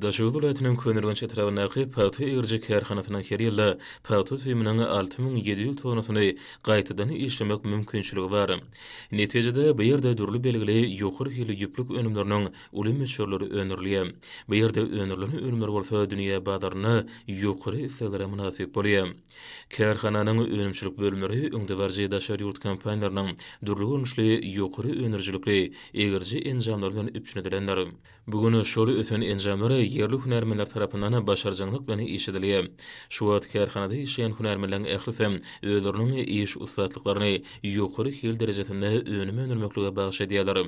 Daşoguz welaýatynyň Köneürgenç etrabyndaky pagta egiriji kärhanasynyň her ýylda pagta süýüminiň alty müň ýedi ýüz tonasyny gaýtadan işlemek mümkinçiligi bar. Netijede, bu ýerde dürli belgili ýokary hilli ýüplük önümleriniň uly möçberleri öndürilýär. Bu ýerde öndürilen önümler bolsa dünýä bazarynda ýokary isleglere mynasyp bolýar. Kärhananyň önümçilik bölümleri öňdebaryjy daşary ýurt kompaniýalarynyň dürli görnüşli ýokary öndürijilikli egiriji enjamlary bilen üpjün edilendir. Bu gün şol ösen enjamlar ýerli hünärmenler tarapyndan başarjaňlyk bilen işledilýär. Şu wagt kärhanada işleýän hünärmenleriň ählisi özleriniň iş ussatlyklaryny ýokary hil derejesinde önüm öndürmeklige bagyş edýärler.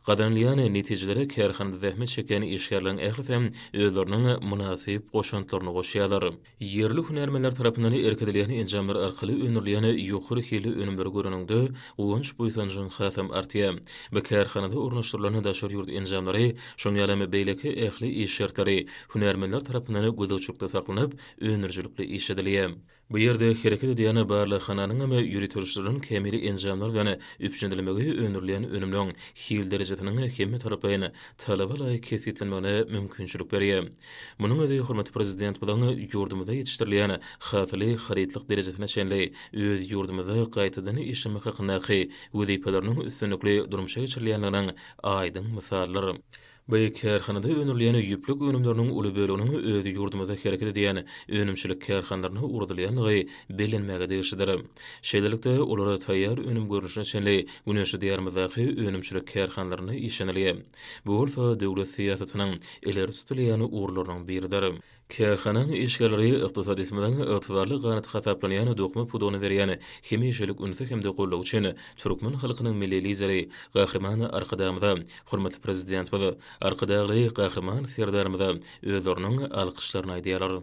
Gazanylýan netijelere kärhanada zähmet çekýän işgärleriň ählisi özleriniň mynasyp goşantlaryny goşýarlar. Ýerli hünärmenler tarapyndan irkidilýän enjamlar arkaly öndürilýän ýokary hilli önümleri göreniňde, guwanç-buýsanjyň hasam artýar. Bu kärhanada ornaşdyrylan daşary ýurt enjamlary, şoň ýalam beýleki ähli iş şertleri hünärmenler tarapyndan gözegçilikde saklanyp, öndürijilikli işledilýär. Bu ýerde hereket edýän barlaghananyňam ýöriteleşdirilen kämil enjamlar bilen üpjünlenmegi öndürilýän önümleň hil derejesiniň hemmetaraplaýyn talaba laýyk kesgitlenmegine mümkinçilik berýär. Munuň özi hormatly Prezidentimiziň ýurdumyzda ýetişdirilýän hasyly harytlyk derejesine çenli öz ýurdumyzda gaýtadan işlemek hakyndaky wezipeleriniň üstünlikli durmuşa geçirilýändiginiň aýdyň mysalydyr. Bu kärhanada öndürilýän ýüplük önümleriniň uly böleginiň öz ýurdumyzda hereket edýän önümçilik kärhanalaryna ugradylýandygy bellenmäge degişlidir. Şeýlelikde, olar taýýar önüm görnüşine çenli güneşli Diýarymyzdaky önümçilik kärhanalarynda işlenilýär. Bu bolsa döwlet syýasatynyň ileri tutulýan ugurlarynyň biridir. Kärhananyň işgärleri ykdysadyýetimiziň ygtybarly ganaty hasaplanýan dokma pudagyna berýän hemişelik ünsi hem-de goldawy üçin türkmen halkynyň Milli Lideri Gahryman Arkadagymyza, hormatly Prezidentimiz Arkadagly Gahryman Serdarymyza özleriniň alkyşlaryny aýdýarlar.